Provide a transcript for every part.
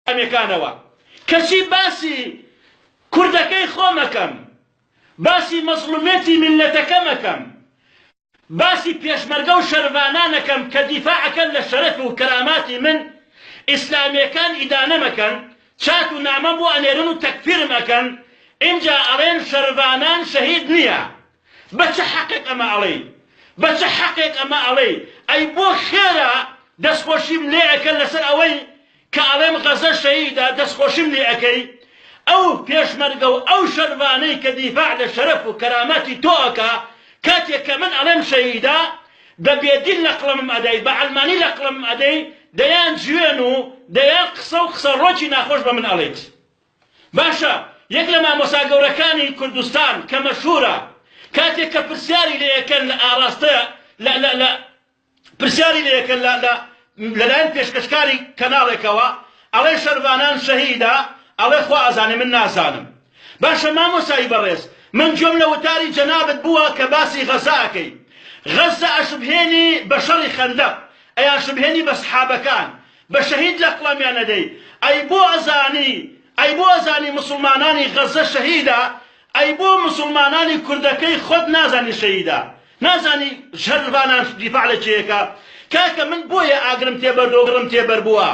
ئەمەکانەوە کەچی باسی کوردەکەی خۆم ئەکەم باسی مەزڵومێتی میللەتەکەم ئەکەم باسی پێشمەرگە و شەرڤانان ئەکەم کە دیفاع ئەکەن لە شەرەف و کەراماتی من ئیسلامیەکان ئیدانەم ئەکەن چات و نامەم بۆ ئەنێرن و تەکفیرم ئەکەن ئینجا ئەڵێن شەرڤانان شەهید نیە بە چ حەقێک ئەمە ئەڵێی بە چ حەقێک ئەمە ئەڵێی ئەی بۆ خێرا دەستخۆشیم لێ ئەکەن لەسەر ئەوەی کە ئەڵێم غەزە شەهیدە دەست خۆشیم لێ ئەکەی؟ ئەو پێشمەرگە و ئەو شەرڤانەی کە دیفاع لە شەرەف و کەرامەتی تۆ ئەکا کاتێ کە من ئەڵێم شەهیدە بە بێ دیل لە قڵمم ئەدەی بە عەلمانی لە قڵمم ئەدەی دەیان جوێن و دەیان قسە و قسە ڕۆکی ناخۆش بە من ئەڵێیت باشە یەک لە مامۆسا گەورەکانی کوردستان کە مەشهورە کاتێ کە پرسیاری لێ ئەکەن لە ئاڕاستە لە لە لە پرسیاری لێ کە لە لە لەلایەن پێشکەشکاری کەناڵێکەوە ئەڵێ شەرڤانان شەهیدە ئەڵێ خوا ئەزانێ من نازانم باشە مامۆسای بەڕێز من گوێم لە وتاری جەنابت بووە کە باسی غەزە ئەکەی غەزە ئەشبهێنی بە شەڕی خەندەق ئەیانشبهێنی بە سحابەکان بە شەهید لە قڵەمیان ئەدەی ئەی بۆ ئەزانی ئەی بۆ ئەزانی موسڵمانانی غەزە شەهیدە ئەی بۆ موسڵمانانی کوردەکەی خۆت نازانی شەهیدە نازانی شەر ڤانان دیفاع لە کێیەکە کاکە من بۆیە ئاگرم تێ بەردۆ گڕم تێ بەربووە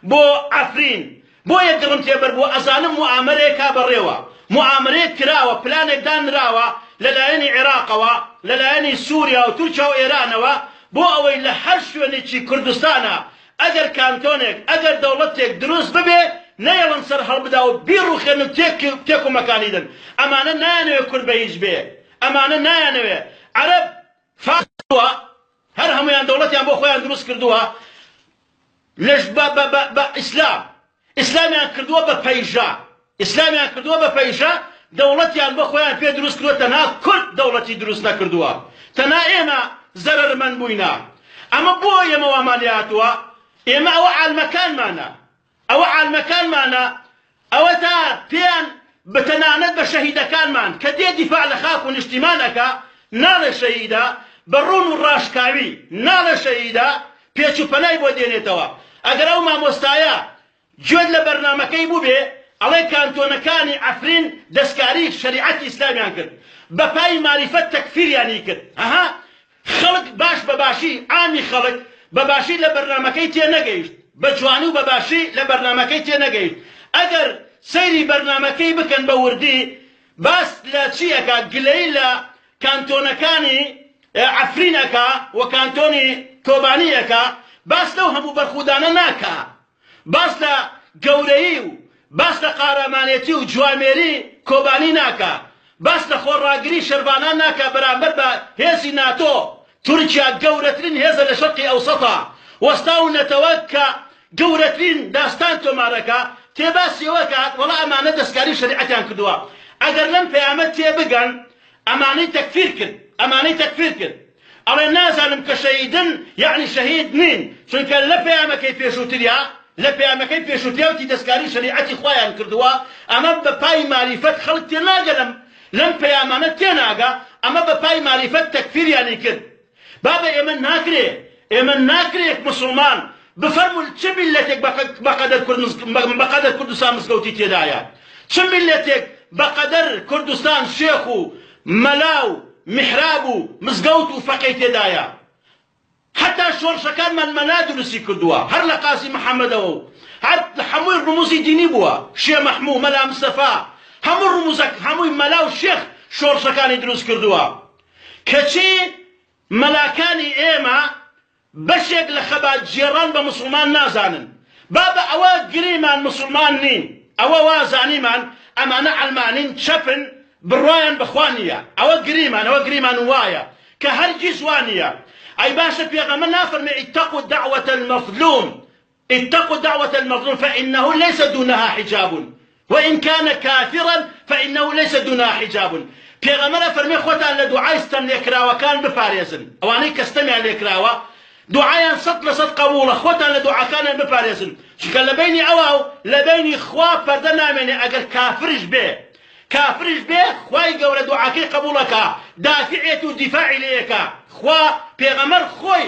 بۆ عەفرین بۆیە گڕم تێ بەربووە ئەزانم موئامەرەیە کا بەڕێوە موئامەرەیەک کراوە پلانێک دان نراوە لە لایەنی عێراقەوە لە لایەنی سوریا و تورکیا و ئێرانەوە بۆ ئەوەی لە هەر شوێنێکی کوردستانا ئەگەر کانتۆنێک، ئەگەر دەوڵەتێک دروست ببێ، نەیەڵن سەر هەڵبدا و بیڕووخێن و تێک و مەکانی دەن. ئەمانە نایانەوێ کورد بە هیچ بێ. ئەمانە نایانەوێ. عەرەب، فارس و. هەر هەموویان دەوڵەتیان بۆ خۆیان دروست کردووە لە بە ئیسلام. ئیسلامیان کردووە بە پەیژە ئیسلامیان کردووە بە پەیژە دەوڵەتیان بۆ خۆیان پێ دروست کردووە تەنها کورد دەوڵەتی دروست نەکردووە تەنها ئێمە زەرەرمەند بووینە ئەمە بۆ ئێمە وامان لێ هاتووە ئێمە ئەوە عالمەکانمانە ئەوە عالمەکانمانە ئەوە تا پێیان بە تەنانەت بە شەهیدەکانمان کە دێ دیفاع لە خاک و نیشتیمان ئەکا ناڵێ شەهیدە، بە ڕوون و ڕاشکاوی ناڵێ شەهیدە، پێچ و پەنای بۆ دێنێتەوە. ئەگەر ئەو مامۆستایە گوێت لە بەرنامەکەی بووبێ ئەڵێ کانتۆنەکانی عەفرین دەسکاری شەریعەتی ئیسلامیان کرد، بە پای ماریفەت تەکفیریانی کرد. هەهە خەڵک باش بە باشی، عامی خەڵک بە باشی لە بەرنامەکەی تێ نەگەیشت، بە جوانی و بە باشی لە بەرنامەکەی تێ نەگەیشت، ئەگەر سەیری بەرنامەکەی بکەن بە وردی باس لە چی ئەکا گلەی لە کانتۆنەکانی عەفرین ئەکا و کانتۆنی کۆبانی ئەکا باس لەو هەموو بەرخودانە ناکا باس لە گەورەیی و باس لە قارامانێتی و جوامێری کۆبانی ناکا، باس لە خۆڕاگری شەرڤانان ناکا بەرامبەر بە هێزی ناتۆ، تورکیا گەورەترین هێزە لە شەرقی ئەوسەتا، وەستا و نەتەوە کە گەورەترین داستان تۆمار ئەکا، تێ باسی ئەوە ئەکات وەڵا ئەمانە دەسکاری و شەریعەتیان کردووە، ئەگەر لەم پەیامە تێ بگەن ئەمانەی تەکفیر کرد، ئەمانەی تەکفیر کرد. ئەڵێ نازانم کە شەهیدن یەعنی شەهید نین چونکە لە پەیامەکەی پێشووتریا لە پەیامەکەی پێشووتریا وتی دەسکاری شەریعەتی خوایان کردووە ئەمە بە پای ماریفەت خەڵک تێناگە لەم لەم پەیامانە تێناگا ئەمە بە پای ماریفەت تەکفیریانی کرد بابە ئێمە ناکرێ ئێمە ناکرێ موسڵمان بفەرموون چ میللەتێک بە بە قەدەر کورد مزگ بە قەدەر کوردستان مزگەوتی تێدایە چ میللەتێک بە قەدەر کوردستان شێخ و مەلا و میحراب و مزگەوت و فەقێی تێدایە هەتا شۆڕشەکانمان مەلا دروستی کردووە هەر لە قازی محەمەدەوە و هەر هەمووی ڕموزی دینی بووە شێ مەحموو مەلا مستەفا هەموو ڕموزە هەمووی مەلا و شێخ شۆڕشەکانی دروست کردووە کەچی مەلاکانی ئێمە بەشێک لە خەبات گێڕان بە موسڵمان نازانن بابە ئەوە گریمان موسڵمان نین ئەوە وا زانیمان ئەمانە عەلمانین چەپن بڕوایان بە خوا نییە ئەوە گریمان ئەوە گریمان وایە کە هەرگیز وا نییە ئەی باشە پێغەمبەر نافەرموێ اتقوا دعوە المظلوم اتقوا دعوة المظلوم فانه ليس دونها حجاب وان کان کافرا فانه ليس دونها حجاب پێغەمبەر ئەفەرمێ خۆتان لە دوعای ستەم لێکراوەکان بپارێزن ئەوانەی کە ستەمیان لێکراوە دوعایان سەد لە سەد قەبوڵە خۆتان لە دوعاکانیان بپارێزن چونکە لە بەینی ئەوا و لە بەینی خوا پەردە نامێنێ ئەگەر کافرش بێ کافرش بێ خوای گەورە دوعاکەی قەبوڵ ئەکا دافعێت و دیفاعی لێ ئەکا خوا پێغەمبەر خۆی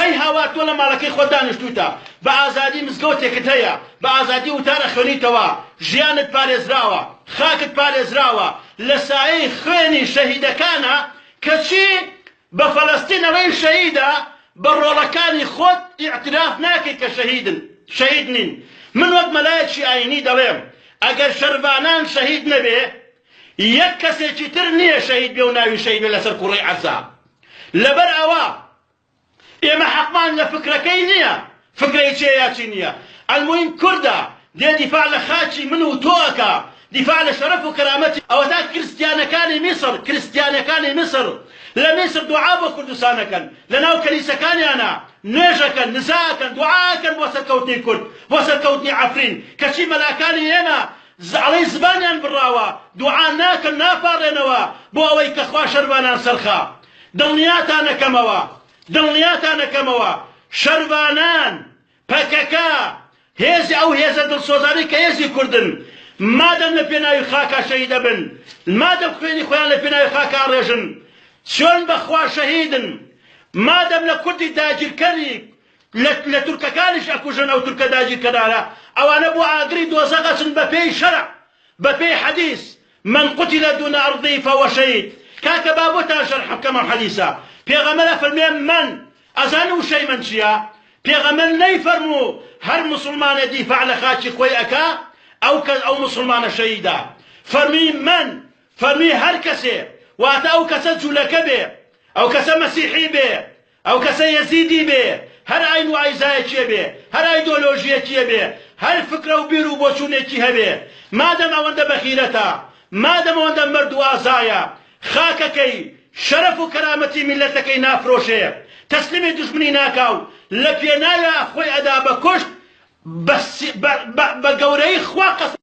هەی هاوار تۆ لە ماڵەکەی خۆت دانیشتوویتە، بە ئازادی مزگەوتێکت هەیە، بە ئازادی وتار ئەخوێنیتەوە، ژیانت پارێزراوە، خاکت پارێزراوە، لە سایەی خوێنی شەهیدەکانە، کەچی بە فەلەستینەوەی شەهیدە، بە ڕۆڵەکانی خۆت ئیعتراف ناکەی کە شەهیدن، شەهید نین. من وەک مەلایەکی ئایینی دەڵێم، ئەگەر شەرڤانان شەهید نەبێ، یەک کەسێکی تر نییە شەهید بێ و ناوی شەهید بێ لەسەر کوڕەی عەزا. لەبەر ئەوە ئێمە حەقمان لە فکرەکەی نییە، فکرەی چییە یا چی نییە، ئەلموهیم کوردە، دێ دیفاع لە خاکی من و تۆ ئەکا، دیفاع لە شەرەف و کەرامەتی. ئەوەتا کرستیانەکانی میسڕ، کرستیانەکانی میسڕ لە میسڕ دوعا بۆ کوردستان ئەکەن، لەناو کەنیسەکانیانا نوێژ ئەکەن، نزا ئەکەن، دوعا ئەکەن بۆ سەرکەوتنی کورد، بۆ سەرکەوتنی عەفرین، کەچی مەلاکانی ئێمە زەعڵەی زبانیان بڕاوە دوعا ناکەن ناپاڕێنەوە بۆ ئەوەی کە خوا شەرڤانان سەرخا دڵنیاتانەکەمەوە دڵنیاتانەکەمەوە شەرڤانان پەکەکە هێزی ئەو هێزە دڵسۆزانەی کە هێزی کوردن مادەم لە پێناوی خاکا شەهیدەبن مادەم خوێنی خۆیان لە پێناوی خاکا ڕێژن چۆن بەخوا شەهیدن مادەم لە کوردی داگیرکەری لە لە تورکەکانیش ئەکوژن ئەو تورکە داگیرکەرانە ئەوانە بۆ ئاگری دۆزەخ ئەچن بە پێی شەرع بە پێی حەدیس من قتل دون ارضی فهو شهید کاکە با بۆتان شەرح بکەم ئەم حەدیسە پێغەمبەر ئەفەرمێ من ئەزانی وشەی من چیە پێغەمبەر نەیفەرموو هەر موسڵمانێ دیفاع لە خاکی خۆی ئەکا ئەو کەس ئەو موسڵمانە شەهیدە فەرمی من فەرمی هەر کەسێ واتە ئەو کەسە جولەکە بێ ئەو کەسە مەسیحی بێ ئەو کەسە یەزیدی بێ، هەر ئاین و ئایزایەکیە بێ، هەر ئایدۆلۆژیەکیە بێ، هەر فکرە و بیر و بۆچوونێکی هەبێ، مادەم ئەوەندە بەغیرەتە، مادەم ئەوەندە مەرد و ئازایە، خاکەکەی، شەرەف و کەرامەتی میللەتەکەی نافرۆشێ، تەسلیمی دوژمنی ناکا و لە پێناویا خۆی ئەدا بە کوشت، بە بە گەورەی خوا قەسەم.